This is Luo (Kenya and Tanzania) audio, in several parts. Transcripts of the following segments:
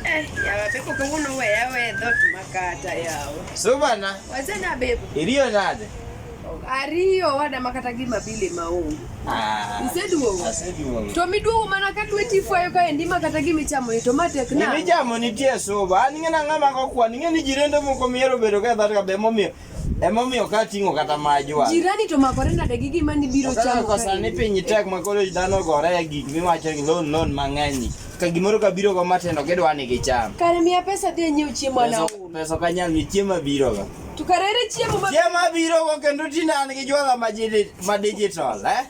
Eh, yawa pepo kuno we yawe dot makata yawo. So bana. Wazana bebo. Iliyo nade. Ariyo wada makata gi mabile maongo. Ah. Iseduogo. Aseduogo. To miduogo mana ka dwe tifo ayo kae ndima kata gi michamo ni to matek na. Ni michamo ni tie soba. Ani ngena ngama ko kwa ni ngeni jirendo moko miero bedo ka dhata be momiyo. Emomiyo ka ting'o kata majwa. Jirani to makore nade gi gima ni biro chamo. Kwa sani piny tek ma koro dhano gore e gik miwacho ni loan loan mang'eny. Ka gimoro ka biro go matendo gidwa ni gicham. Kare miya pesa dhi nyiew chiemo ana. Pesa ka nyal ni chiemo biro go. To kare chiemo ma Chiemo biro go kendo tinani gi jwala ma digital eh.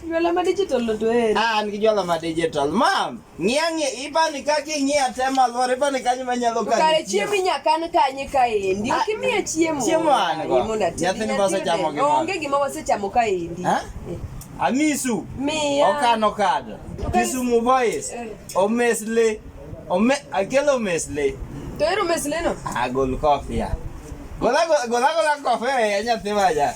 Jwala ma digital to eri. Ah, an gi jwala ma digital. Mam, ng'iya ng'iya, ipani kaka ing'iya te malwar, ipani kanyo manyalo kani. Kare chiemo inya kan kanye kaendi. Ok imiye chiemo. Chiemo an go. Nyathini ma osechamo gimoro. Onge gima wasechamo kaendi. Ha? Eh. Amisu. Miya. Okano kado. Kisumu boys. Eh. Omesle. Ome akelo omesle. To ero omesle no? Agol kofia. Gola gola gola kofia ya nyathi maja.